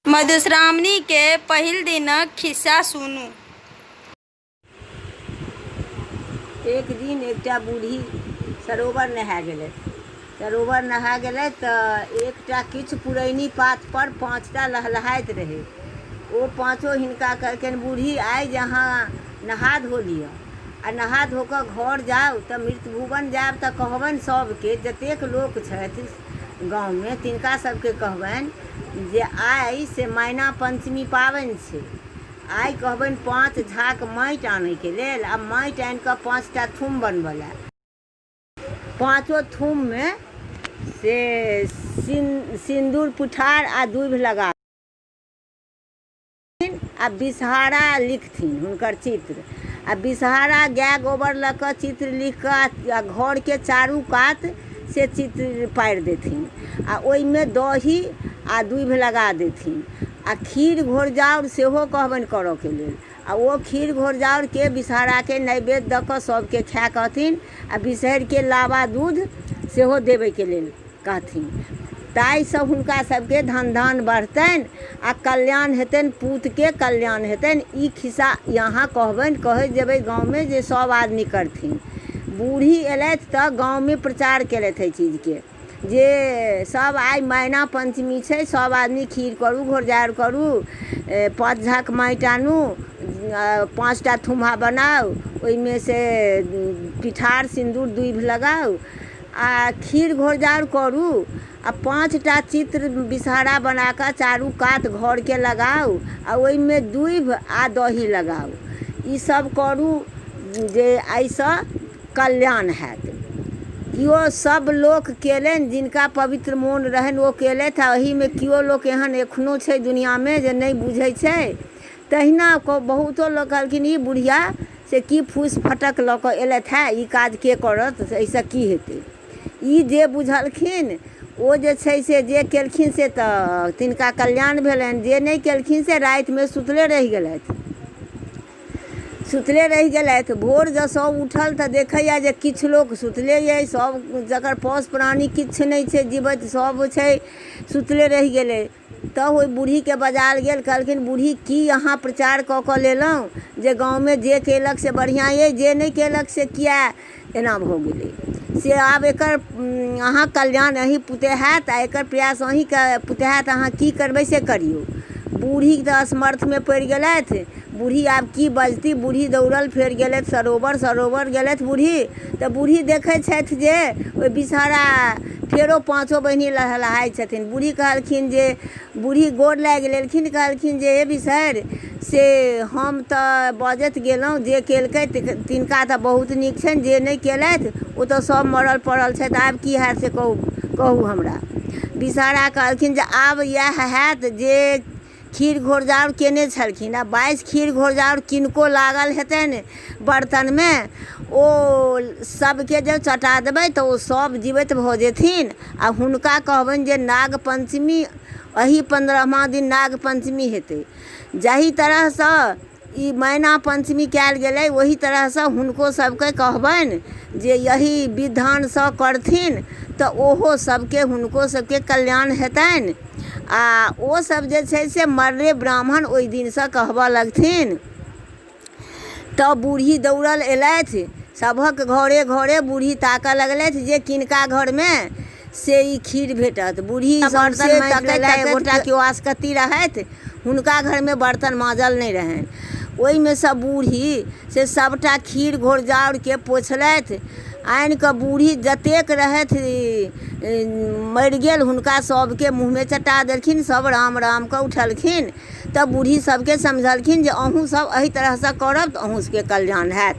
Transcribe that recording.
मधुश्रावणी के पहिल दिनक खिस्सा सुनू। एक दिन एकटा बूढ़ी सरोवर नहाय गेलथि। सरोवर नहाय गेलथि त एकटा किछु पुरैनी पात पर पाँचटा लहलहाइत रहै। ओ पाँचो हिनका कहलकनि बूढ़ी आइ जे अहाँ नहा धो लिअ आ नहा धो क घर जाउ त मृतभुवन जायब त कहबनि सभ के जतेक लोक छथि गाममे तिनका सभकेँ कहबनि जे आइ से मैना पञ्चमी पाबनि छै। आइ कहबनि पाँच झाक माटि आनैके लेल आ माटि आनि कऽ पाँच टा थुम बनबऽ लए। पाँचो थुममे से सिन सिन्दूर पिठार आ दूभि लगाबनि। आ विषहारा लिखथिन हुनकर चित्र आ विषहारा गाय गोबर लऽ कऽ चित्र लिख कऽ आ घरके चारू कात से चित्र पारि देथिन आ ओहिमे दही आ दूभि लगा देथिन आ खीर घोरजाउर सेहो कहबनि करऽके लेल आ ओ खीर घोरजाउरके विषहाराके नैवेद्य दऽ कऽ सभके खाय कहथिन आ विषहरिके लावा दूध सेहो देबैके लेल कहथिन। ताहिसँ हुनका सभकेँ धनधान बढ़तनि आ कल्याण हेतनि। पूतकेँ कल्याण हेतनि। ई खिस्सा अहाँ कहबनि। कहैत जेबै गाममे जे सभ आदमी करथिन। बूढ़ी एलथि तँ गाममे प्रचार केलथि एहि चीजकेँ जे सभ आइ मैना पञ्चमी छै। सभ आदमी खीर करू, घोरजाउर करू, पाँच झाँक माटि आनू, पाँच टा थुम्हा बनाउ, ओहिमे सँ पिठार, सिन्दूर, दूभि लगाउ। आ खीर घोरजाउर करू आ पाँच टा चित्र विषहरा बना कऽ चारू कात घरके लगाउ आ ओहिमे दूभि आ दही लगाउ ई सभ करू जे एहिसँ कल्याण होयत केओ सभ लोक केलनि जिनका पवित्र मोन रहनि ओ केलथि आ एहिमे केओ लोक एहन एखनो छै दुनिआँमे जे नहि बुझै छै तहिना कऽ बहुतो लोक कहलखिन ई बुढ़िया से की फूसि फटक लऽ कऽ एलथि हँ ई काज के करत एहिसँ की हेतै ई जे बुझलखिन ओ जे छै से जे केलखिन से तऽ तिनका कल्याण भेलनि जे नहि केलखिन से रातिमे सुतले रहि गेलथि सुतले रहि गेलथि भोर जँ सभ उठल तऽ देखैए जे किछु लोक सुतले अइ सभ जकर पौस प्राणी किछु नहि छै जीबैत सभ छै सुतले रहि गेलै तँ ओहि बुढ़ीकेँ बजायल गेल। कहलखिन, बुढ़ी, की अहाँ प्रचार कऽ कऽ लेलहुँ जे गाममे जे केलक से बढ़ियाँ अइ, जे नहि केलक से किएक एना भऽ गेलै? से आब एकर अहाँक कल्याण अहीं पुते हएत आ एकर प्रयास अहींक पुते हएत। अहाँ की करबै से करियौ। बुढ़ी तँ असमर्थमे पड़ि गेलथि। बूढ़ी आब की बजती बूढ़ी दौड़ल फेर गेलथि सरोवर सरोवर गेलथि बूढ़ी तऽ बूढ़ी देखै छथि जे ओहि विषहरा फेरो पाँचो बहिनी लहलहाइ छथिन बूढ़ी कहलखिन जे बूढ़ी गोर लागि लेलखिन कहलखिन जे हे विषहरि से हम तऽ बजैत गेलहुॅं जे केलकै तिनका तऽ बहुत नीक छनि जे नहि केलथि ओ तऽ सब मरल परल छथि आब की होयत से कहू कहू हमरा विषहरा कहलखिन जे आब इएह होयत जे खीर घोरजाउर कयने छलखिन आ बाइस खीर घोरजाउर किनको लागल हेतनि बर्तनमे ओ सभके जँ चटा देबै तऽ ओ सभ जीबैत भऽ जेथिन आ हुनका कहबनि जे नाग पञ्चमी एहि पन्द्रहमा दिन नाग पञ्चमी हेतै जाहि तरहसँ ई मैना पञ्चमी कयल गेलै ओहि तरहसँ हुनको सबके कहबनि जे एहि विधानसँ करथिन तऽ ओहो सबके हुनको सबके कल्याण हेतनि आओर ओ सब जे छै से मरले ब्राह्मण ओइ दिनसँ कहबऽ लगथिन तऽ बूढ़ी दौड़ल एलथि सबहक घरे घरे बूढ़ी ताकऽ लगलथि जे किनका घरमे से ई खीर भेटत। बुढ़ी सौंसे तकैत तकैत गोटा कियो आसकत्ती रहथि। हुनका घरमे बर्तन माँजल नहि रहनि। ओहिमे सँ बुढ़ी से सभटा खीर घोरजाउरकेँ पोछलथि। आनि कऽ बुढ़ी जतेक रहथि मरि गेल हुनका सभकेँ मुँहमे चटा देलखिन। सभ राम राम कऽ उठलखिन तँ बुढ़ी सभकेँ समझौलखिन जे अहूँ सभ एहि तरहसँ करब तँ अहूँ सभकेँ कल्याण हएत।